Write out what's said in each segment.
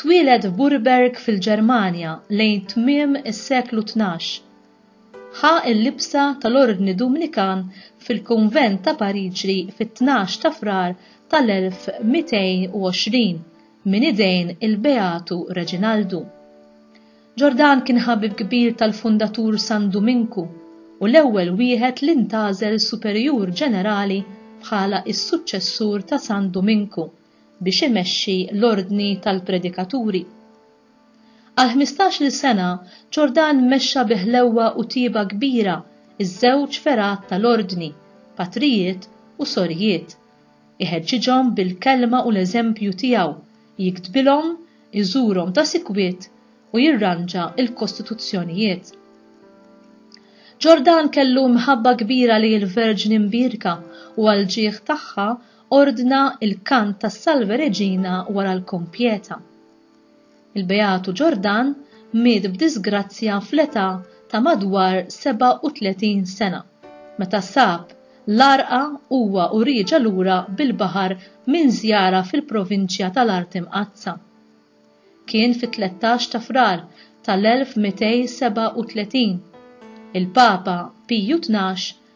Twieled f'Burberg fil-Ġermanja lejn tmiem is-seklu tnax. Ħa l-libsa tal-Ordni Dumnikan fil-Kunvent ta' Pariġi fit-tnax ta' Frar tal-1220 minn idejn il-Beatu Reġinaldu. Ġordan kien ħabib kbir tal-Fundatur San Duminku u l-ewwel wieħed li ntgħażel Superjur Ġenerali bħala s-suċċessur ta' San Duminku. biex imexxi l-Ordni tal-Predikaturi. Għal ħmistax-il sena, Ġordan mexxa bi ħlewwa u tjieba kbira ż-żewġ fergħat tal-Ordni, patrijiet u sorijiet, iħeġġiġhom bil-kelma u l-eżempju tiegħu, jiktbilhom, iżurhom ta' sikwit u jirranġa l-kostituzzjonijiet. Ġordan kellu mħabba kbira li l-Verġni Mbierka u għall-ġieħ tagħha ordna l-kant tas-Salve Regina wara l-Kompieta. Il-Beatu Ġordan miet b'diżgrazzja fl-età ta' madwar 37 sena, meta sab l-għarqa huwa u rieġa' lura bil-baħar minn żjara fil-provinċja tal-Art Imqaddsa. Kien fit-tlettax ta' Frar tal-1237. Il-Papa Piju Tnax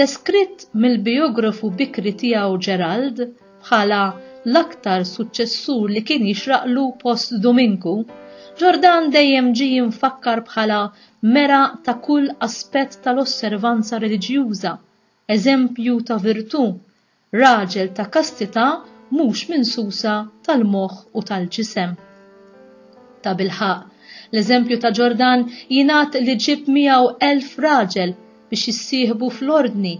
Deskritt mill-bijografu bikri tiegħu Gerald bħala l-aktar suċċessur li kien jixraqlu post Duminku, Ġordan dejjem ġie mfakkar bħala mera ta' kull aspett tal-osservanza reliġjuża, eżempju ta' virtù, Raġel ta' kastità mhux minsusa tal-moħħ u tal-ġisem. Tabilħaqq, l-eżempju ta' Ġordan jingħad li ġieb miegħu elf raġel biex jissieħbu fl-Ordni,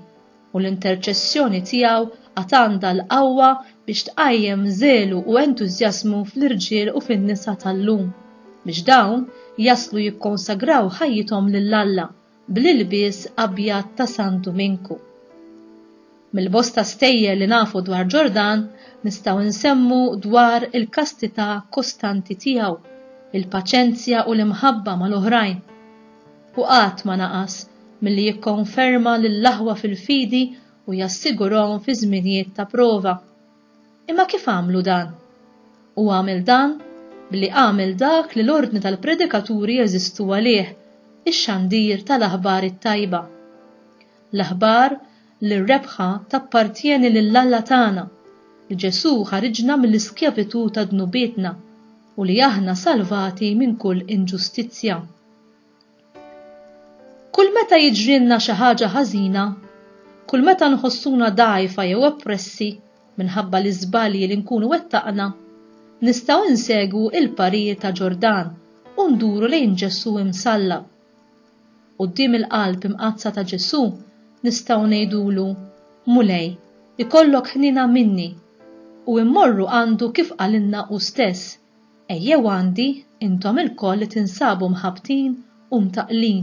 u l-interċessjoni tiegħu għad għandha l-qawwa biex tqajjem żelu u entużjażmu fl-irġiel u fin-nisa tal-lum biex dawn jaslu jikkonsagraw ħajjithom lil Alla. bl-ilbies abjad ta' San Duminku. Mill-bosta stejjer li nafu dwar Ġordan nistgħu nsemmu dwar il-kastità kostanti tiegħu, il-paċenzja u l-imħabba mal-oħrajn. U qatt ma naqas milli jikkonferma lill-aħwa fil-fidi u jassigurahom fi żminijiet ta' prova. Imma kif għamlu dan? Hu għamel dan billi għamel dak li l-ordni tal-predikaturi jeżistu għalih, ix-xandir tal-aħbar it-tajba. L-aħbar li r-rebħa tappartjeni lil Alla tagħna, li Ġesù ħariġna mill-iskjavitù ta' dnubietna u li aħna salvati minn kull inġustizzja. Kull meta jiġrilna xi ħaġa ħażina, kull meta nħossuna dgħajfa jew oppressi minħabba l-iżbalji li nkunu wettaqna, nistgħu insegwu l-parir ta' Ġordan u nduru lejn Ġesù imsallab. Quddiem il-qalb imqaddsa ta' Ġesù nistgħu ngħidulu, Mulej, ikollok ħniena minni, u mmorru għandu kif qalilna hu stess, Ejjew għandi, intom ilkoll li tinsabu mħabbtin u mtaqqlin,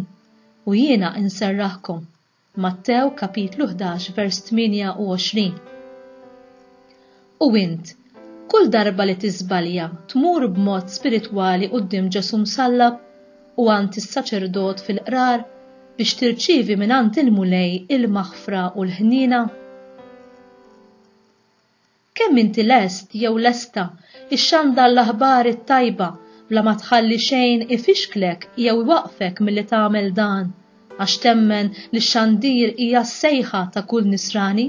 u jiena inserraħkom. Mattew kapitlu ħdax vers 28. U int, kull darba li tiżbalja tmur b'mod spiritwali quddiem Ġesù msallab u għand is-saċerdot fil-qrar biex tirċievi mingħand il-Mulej il-maħfra u l-ħniena? Kemm inti lest jew lesta xxandar l-aħbar it-tajba bla ma tħalli xejn ifixklek jew iwaqqfek milli tagħmel dan, għax temmen li x-xandir hija s-sejħa ta' kull Nisrani?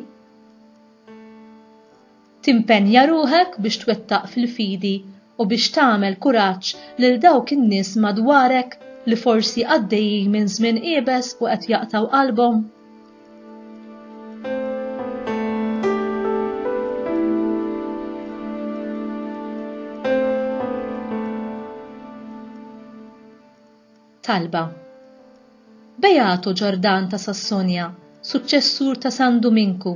Timpenja ruħek biex twettaq fil-fidi u biex tagħmel kuraġġ lil dawk in-nies madwarek li forsi għaddejjin minn żmien iebes u qed jaqtgħu qalbhom? Talba. Beato Ġordan ta' Sassonja, suċċessur ta' San Duminku,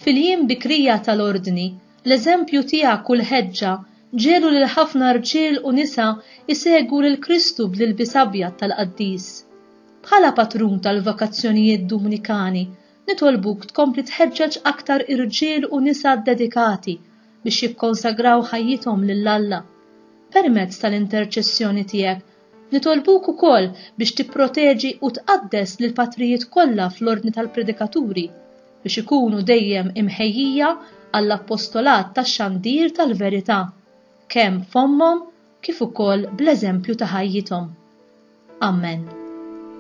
fil-jiem bikrija tal-Ordni, l-eżempju tiegħek u l-ħeġġa ġegħlu lil ħafna rġiel u nisa jsegwu lil Kristu bl-ilbies abjad tal-qaddis. Bħala patrun tal-vokazzjonijiet Dumnikani, nitolbuk tkompli tħeġġeġ aktar irġiel u nisa ddedikati biex jikkonsagraw ħajjithom lil Alla. Permezz tal-interċessjoni tiegħek Nitolbuk ukoll biex tipproteġi u tqaddes lill-patrijiet kollha fl-Ordni tal-Predikaturi biex ikunu dejjem imħejjija għall-appostolat tax-xandir tal-verità, kemm f'fommhom kif ukoll bl-eżempju ta' ħajjithom. Ammen.